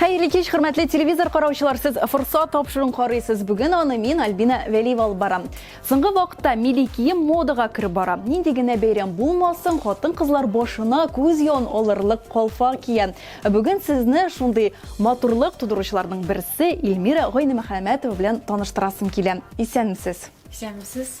Хәерле кич, хөрмәтле телевизор караучылар, сез форса тапшыруын карыйсыз. Бүген аны мин Альбина Вәлиева алып барам. Соңгы вакытта милли кием модага кереп бара. Нинди генә бәйрәм булмасын, хатын-кызлар башына күз ян алырлык калфа кия. Бүген сезне шундый матурлык тудыручыларның берсе Эльмира Гайнемөхәммәтова белән таныштырасым килә. Исәнмесез. Исәнмесез.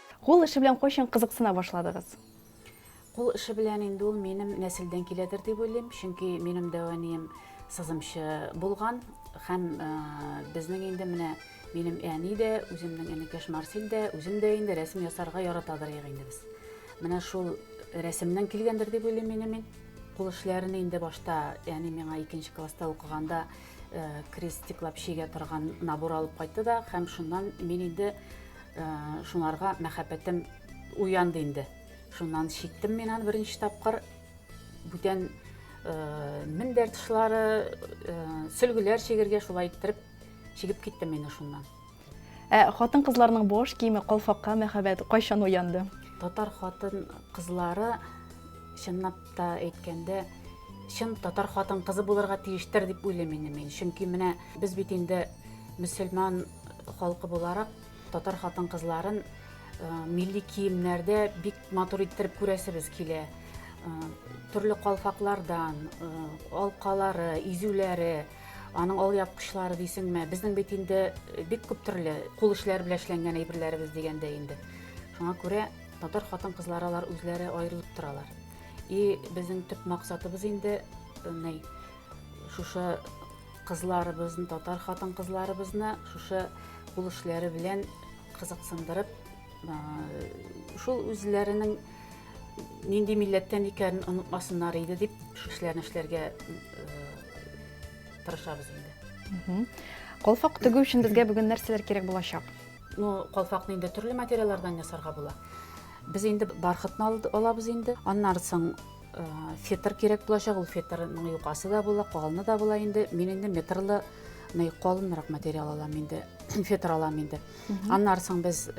Кул эше белән кайчан кызыксына башладыгыз? Кул эше белән инде ул минем нәселдән киләдер дип уйлыйм, чөнки минем дәү әнием сызымчы булган һәм безнең инде менә минем әни дә, үземнең энекәш Марсель дә, үзем дә инде рәсем ясарга яратадыр инде без. Менә шул рәсемнән килгәндер дип уйлыйм инде мин. Кул эшләрен инде башта, яни миңа икенче класста укыганда э, крестиклап чигә торган набор алып кайтты да, һәм шуннан мин инде Ә, шунарга мәхәббәтем уянды инде. Шуннан шиттем мин аны беренче тапкыр. Бүтән ә, мендәр тышлары, ә, сөлгеләр чигергә шулай иттереп чигеп киттем мин шуннан. Ә хатын кызларның бош киеме калфакка мәхәббәт кайчан уянды? Татар хатын кызлары чынлап та әйткәндә чын татар хатын кызы булырга тиештер дип уйлыйм инде мин. Чөнки менә без бит инде мөселман Халкы буларак татар хатын-кызларын милли киемнәрдә бик матур иттереп күрәсебез килә. Төрле калфаклардан, алкалары, изүләре, аның алъяпкычлары дисеңме, безнең бит инде бик күп төрле кул эшләре белән эшләнгән әйберләребез дигәндә инде. Шуңа күрә татар хатын-кызлары алар үзләре аерылып торалар. И безнең төп максатыбыз инде, ней, шушы кызларыбызны, татар хатын-кызларыбызны шушы кул эшләре белән кызыксындырып, шул үзләренең нинди милләттән икәнен онытмасыннар иде дип, шушы эшләрне эшләргә тырышабыз инде. Калфак тегү өчен безгә бүген нәрсәләр кирәк булачак? Ну, калфакны инде төрле материаллардан ясарга була. Без инде бархытны алабыз инде. Аннары соң фетр кирәк булачак ул фетрның юкасы да була калыны да була инде мин инде метрлы мындай калынрак материал алам инде фетр алам инде аннары соң без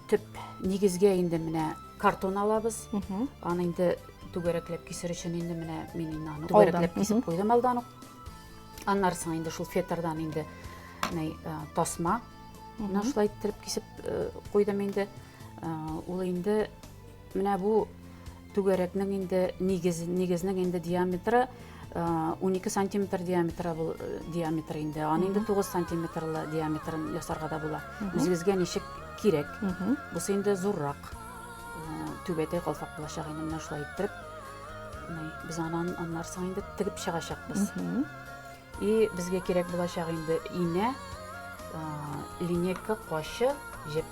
төп нигезгә инде менә картон алабыз аны инде түгәрәкләп кисер өчен инде менә мин инде аны түгәрәкләп кисеп куйдым алдан ук аннары соң инде шул фетрдан инде тасма мына шулай иттереп кисеп куйдым инде ул инде Менә бу түгәрәкнең инде нигез, нигезнең инде диаметры 12 э, сантиметр диаметры бул э, диаметр инде. Аны инде 9 сантиметрлы диаметрын ясарга да була. Үзегезгә ничек кирәк? Бусы инде зуррак. Э, түбәтәй калфак булачак инде менә шулай иттереп. Без анан аннарсың инде тигеп чыгачакбыз. И безгә кирәк булачак инде инә, линейка, качы, җеп.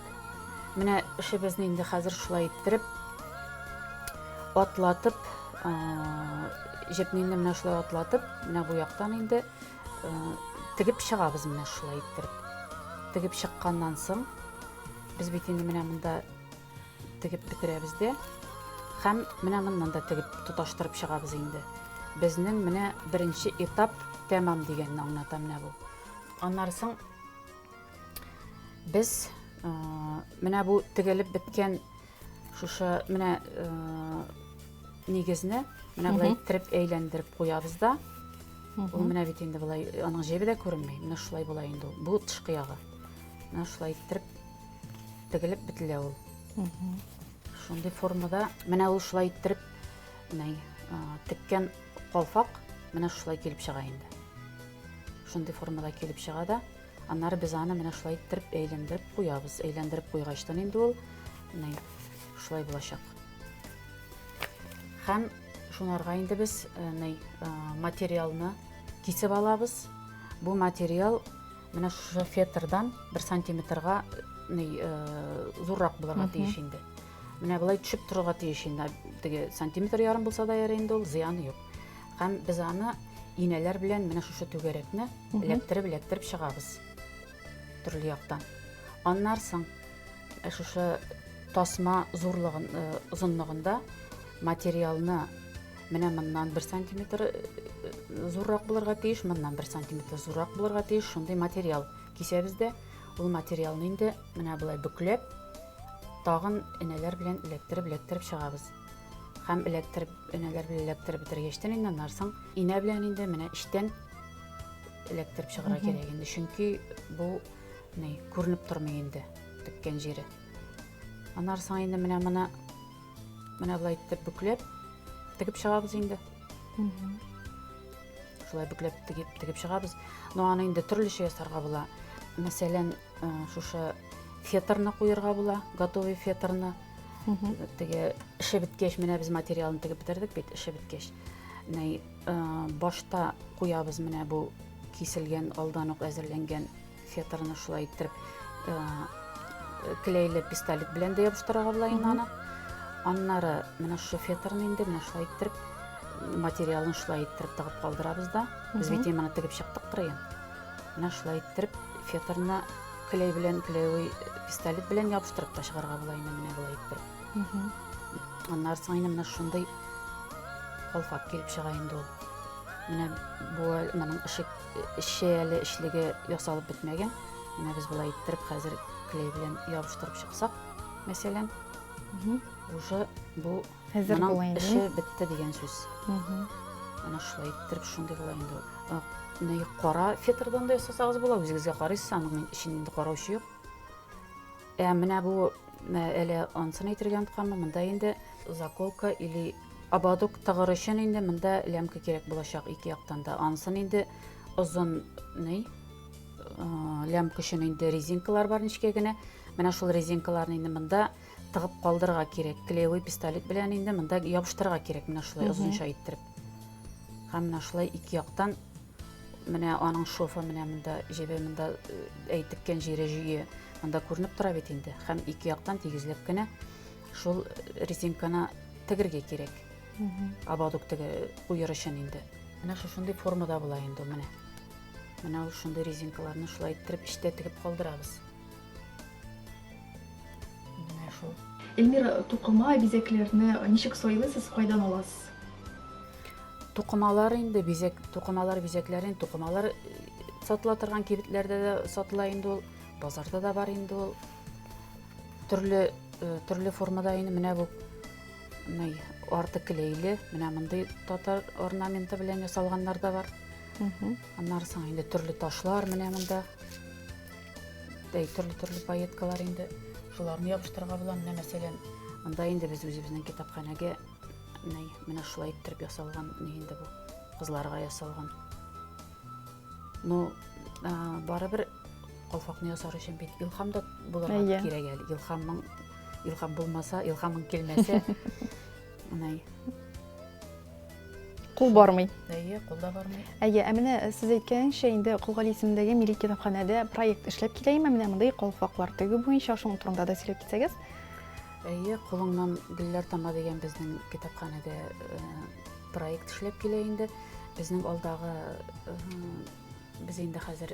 Менә эшебезне инде хәзер шулай иттереп, атлатып, җепне инде менә шулай атлатып, менә бу яктан инде тегеп чыгабыз менә шулай иттереп. Тегеп чыкканнан соң, без бит инде менә монда Тегеп бетерәбез дә һәм менә моннан да тегеп тоташтырып чыгабыз инде. Безнең менә беренче этап тәмам дигәнне аңлата менә бу. Аннары соң без э, менә бу тегелеп беткән шушы менә э, нигезне менә болай иттереп әйләндереп куябыз да. Ул менә бит инде болай аның җебе дә күренми. Менә шулай була инде ул. Бу тышкы ягы. Менә шулай иттереп тегелеп бетелә ул шундый формада менә ул шулай иттереп менә теккән калфак менә шулай килеп чыга инде шундый формада килеп чыга да аннары без аны менә шулай иттереп әйләндереп куябыз әйләндереп куйгачтан инде ул менә шулай булачак һәм шунарга инде без э, менә э, материалны кисеп алабыз бу материал Менә шушы фетрдан бер сантиметрга зуррак булырга тиеш инде. Менә болай төшеп торырга тиеш инде. Теге сантиметр ярым булса да ярый инде ул, зыяны юк. Һәм без аны инәләр белән менә шушы түгәрәкне эләктереп эләктереп чыгабыз төрле яктан аннан соң э, шушы тасма зурлыгын э, озынлыгында материалны Менә моннан бер сантиметр э, зуррак булырга тиеш, моннан бер сантиметр зуррак булырга тиеш, шундый материал кисәбез дә. Ул материалны инде менә болай бүкләп, тагын энәләр белән эләктереп, эләктереп чыгабыз. Һәм эләктереп, энәләр белән эләктереп бетергәчтен инде аннан соң инә белән инде менә эчтән эләктереп чыгарга кирәк инде. Чөнки бу не күренеп тормый инде теккән җире. Аннан соң инде менә моны Менә болай итеп бүкләп тегеп чыгабыз инде. Шулай бүкләп тегеп тегеп чыгабыз. Но аны инде төрлечә ясарга була. Мәсәлән, э, шушы фетрны куярга була, готовый фетрны. Теге эше беткәч, менә без материалны тегеп бетердек бит, эше беткәч. Нәй, э, башта куябыз менә бу киселгән, алдан ук әзерләнгән Феторны шулай иттереп э, клейле пистолет белән дә ябыштырырга була инде аны. Аннары менә шушы феторны инде менә шулай иттереп материалын шулай иттереп тыгып калдырабыз да. Без бит иманы тегеп чыктык кырыен. Менә шулай иттереп феторны клей белән клеевый пистолет белән ябыштырып та чыгарга була инде менә болай иттереп. Аннары соң инде менә шундый калфак килеп чыга инде ул. Менә бу моның ишек Эше әле эшлеге ясалып бетмәгән. Менә без болай иттереп хәзер клей белән ябыштырып чыксак, мәсәлән, уже бу Хәзер моның була инде. эше бетте дигән сүз. Менә шулай иттереп шундый була инде. Ә, Менә кара фетрдан да ясасагыз була, үзегезгә карыйсыз, аның эчен инде караучы юк. Ә менә бу әле ансын әйтергә онытканмын, монда инде заколка или ободок тыгыр өчен инде монда лямка кирәк булачак ике яктан да. Ансын инде озын ни лямка өчен инде резинкалар бар нечкә генә. Менә шул резинкаларны инде монда тыгып калдырырга кирәк. Клеевый пистолет белән инде монда ябыштырырга кирәк менә шулай озынча иттереп. Һәм менә шулай ике яктан Менә аның шофы менә монда җебе монда э, әйтеккән җире җөе монда күренеп тора бит инде. Һәм ике яктан тигезләп кенә шул резинканы тегергә кирәк. Абадук теге куер өчен инде. Менә шушындый формада була инде менә. Менә ул шундый резинкаларны шулай иттереп эчтә тегеп калдырабыз. Менә шул. Эльмира, тукыма, бизәкләрне ничек сайлыйсыз, кайдан аласыз? Тукымалар инде бизәк, тукымалар бизәкләрен, тукымалар э, сатыла торган кибетләрдә дә сатыла инде ул, базарда да бар инде ул. Төрле э, төрле формада инде менә бу мынай арты клейле, менә мондый татар орнаменты белән ясалганнар да бар. Аннары соң инде төрле ташлар менә монда. Дәй төрле-төрле пайеткалар инде. Шуларны ябыштырырга була. Менә мәсәлән, анда инде без үзебезнең китапханәгә менә менә шулай иттереп ясалган ни инде бу кызларга ясалган. Ну, барыбер калфакны ясар өчен бит илхам да булырга кирәк әле. Илхамның илхам булмаса, илхамың килмәсә, Менә. Кул бармый. Әйе, кул да бармый. Әйе, ә менә сез әйткәнчә инде Кулгали исемендәге милли китапханәдә проект эшләп килә име? Менә мондый калфаклар тегү буенча шуның турында да сөйләп китсәгез. Әйе, кулыңнан гөлләр тама дигән безнең китапханәдә э, проект эшләп килә инде. Безнең алдагы э, без инде хәзер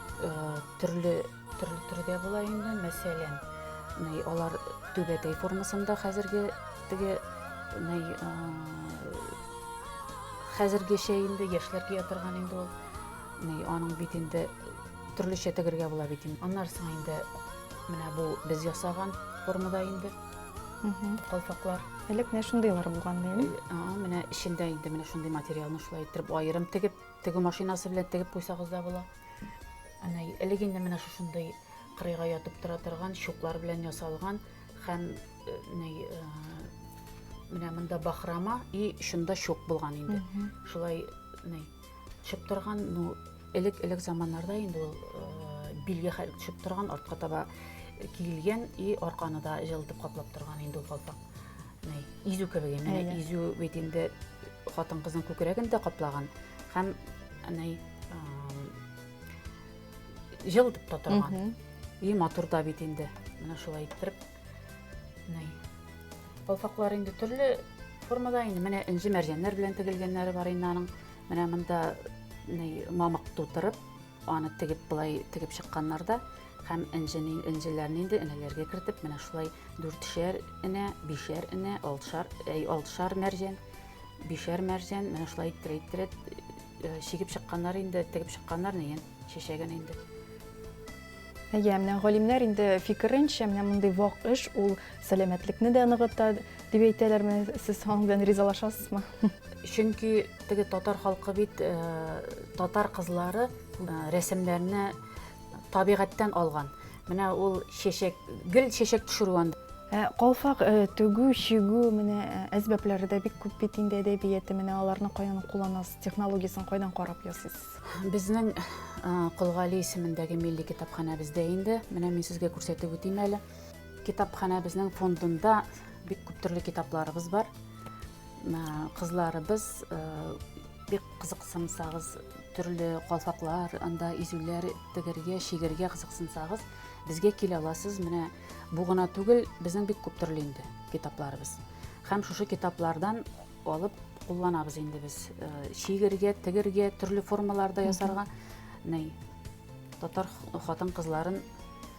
Төрле төрле төрдә була инде, мәсәлән, нәй алар түбәтәй формасында хәзерге теге нәй хәзергечә инде яшьләр кия торган инде ул. Нәй аның бит инде төрлечә тегергә була бит инде. Аннары соң инде менә бу без ясаган формада инде калфаклар. Элек менә шундыйлар булган ди. Менә эчендә инде менә шундый материалны шулай итеп аерым тегеп Тегү машинасы белән тегеп куйсагыз да була. Әнә элек инде менә шушындый кырыйга ятып тора торган чуклар белән ясалган һәм э, ни э, менә монда бахрама и шунда чук булган инде. Шулай ни төшеп торган, ну элек элек заманнарда инде ул э, билгә хәл төшеп торган артка таба киелгән и арканы да җылытып каплап торган инде ул калфак. Изү кебек, менә изү бит инде хатын-кызның күкрәген дә каплаган һәм әнәй җыл итеп тә торган. И матур да бит инде. Менә шулай иттереп. Әнәй. Балфаклар инде төрле формада инде менә инҗе мәрҗәннәр белән тегелгәннәре бар инде аның. Менә монда әнәй мамык тутырып, Аны тегеп болай тегеп чыкканнар да һәм энҗене энҗеләрне инде энәләргә кертеп менә шулай дүртшәр энә, бишәр энә, алтышар, әй, алтышар мәрҗән, бишәр мәрҗән менә шулай иттерә иттерә э, чигеп чыкканнар инде, тегеп чыкканнар нигән чәчәген инде. Әйе, менә галимнәр инде фикеренчә, менә мондый вак эш ул Сәламәтлекне дә ныгыта дип әйтәләрме? Сез аның белән ризалашасызмы? Чөнки теге татар халкы бит э, татар кызлары э, рәсемнәрне табигатьтән алган. Менә ул чәчәк, гел чәчәк төшерү анда. Ә, Калфак э, тегү, чигү менә э, әсбәпләре дә бик күп бит инде әдәбияты. Менә аларны каян кулланасыз? Технологиясын кайдан карап ясыйсыз? Безнең э, Колгали исемендәге милли китапханәбездә инде, менә мин сезгә күрсәтеп үтим әле. Китапханәбезнең фондында бик күп төрле китапларыбыз бар. Кызларыбыз э, бик кызыксынсагыз, төрле калфаклар, анда изүләр тегергә, шигергә кызыксынсагыз, безгә килә аласыз. Менә бу гына түгел, безнең бик күп төрле инде китапларыбыз. Һәм шушы китаплардан алып кулланабыз инде без. Э, шигергә, тегергә, төрле формаларда ясарга. Нәй, татар хатын-кызларын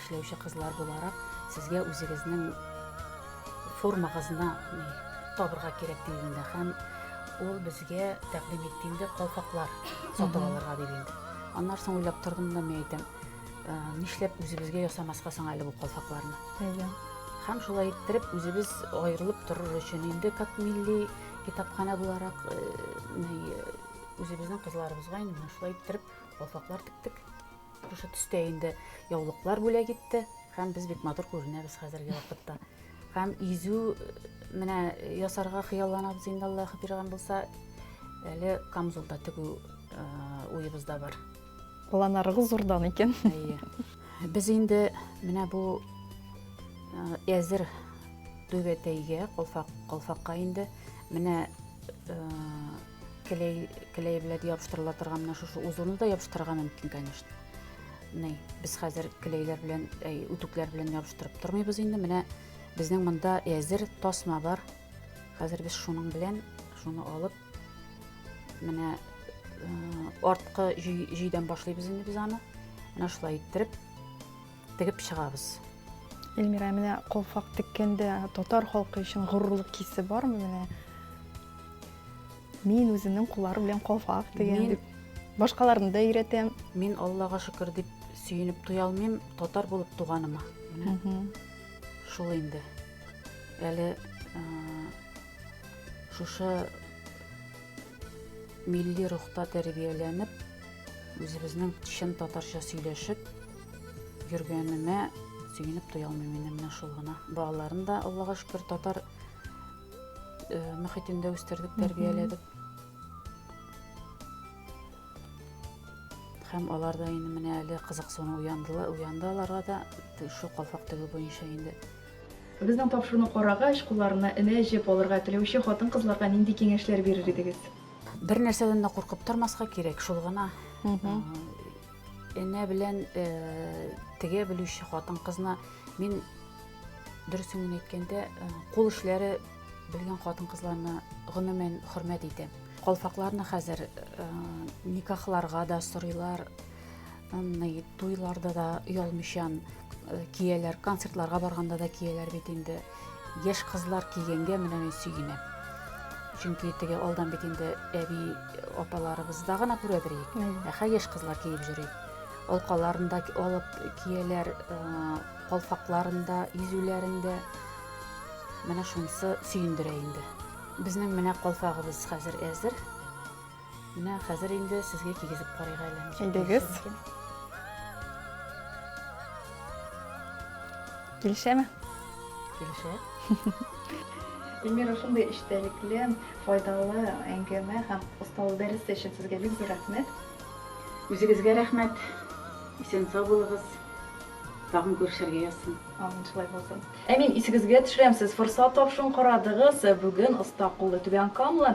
Эшләүче кызлар буларак, сезгә үзегезнең формагызны табырга кирәк диде инде һәм ул безгә тәкъдим итте инде калфаклар сатып алырга диде инде. Аннан соң уйлап тордым да мин әйтәм, «Ә, нишләп үзебезгә ясамаска соң әле бу калфакларны? Әйе. Һәм шулай иттереп үзебез аерылып торыр өчен инде как милли китапханә буларак э, ни, э, үзебезнең кызларыбызга инде менә шулай иттереп калфаклар тектек. Шушы төстә инде яулыклар бүләк итте һәм без бик матур күренәбез хәзерге вакытта. Һәм изү менә ясарга хыялланабыз инде Аллаһ биргән булса, әле камзулда тегү уебызда бар. Планарыгыз зурдан икән. Әйе. Без инде менә бу әзер түбәтәйгә, колфак, колфакка инде менә Клей, клей белән ябыштырыла торган менә шушы узуны да ябыштырырга мөмкин, конечно. Менә без хәзер клейлар белән, әй, үтүкләр белән ябыштырып тормыйбыз инде. Менә безнең монда әзер тасма бар. Хәзер без шуның белән шуны алып менә э, арткы җөйдән башлыйбыз инде без аны. Менә шулай иттереп тегеп чыгабыз. Эльмира, менә колфак теккәндә татар халкы өчен горурлык хисе бармы менә? Мин үземнең кулларым белән колфак тегәм дип. Башкаларны да өйрәтәм. Мин Аллага шөкер дип сөенеп туя алмыйм татар булып туганыма. Шул инде. Әле шушы милли рухта тәрбияләнеп, үзебезнең чын татарча сөйләшеп, Йөргәнемә сөенеп туя алмыйм мин менә шул гына. Балаларын да Аллага шөкер татар э, мөхитендә үстердек, тәрбияләдек. Һәм алар да инде менә әле кызыксыну уяндылар, уянды аларга да шул калфак тегү буенча инде. Безнең тапшыруны карагач, кулларына энә җеп алырга теләүче хатын-кызларга нинди киңәшләр бирер идегез? Бер нәрсәдән дә куркып тормаска кирәк, шул гына. Э, Энә белән тегә белүче хатын-кызны мин дөресен генә әйткәндә, кул эшләре белгән хатын-кызларны гомумән хөрмәт итәм. Калфакларны хәзер никахларга да сорыйлар, туйларда да оялмыйчан кияләр, концертларга барганда да кияләр бит инде. Яшь кызлар кигәнгә менә мин сөенәм. Чөнки теге алдан бит инде әби апаларыбызда гына күрәдер ик. Ә хәзер яшь кызлар киеп йөри. Алкаларында алып кияләр, э, калфакларында, изүләрендә. Менә шунысы сөендерә инде. Безнең менә калфагыбыз хәзер әзер. Менә хәзер инде сезгә кигезеп карыйк әле. Кигез. Килешәме? Килешә. Эльмира, шундый эчтәлекле, файдалы әңгәмә һәм осталык дәресе өчен сезгә бик зур рәхмәт. Үзегезгә рәхмәт. Исән сау булыгыз. Тагын күрешергә язсын. Амин, шулай булсын. Ә мин исегезгә төшерәм, сез форсат тапшын карадыгыз. Бүген оста куллы түбән камлы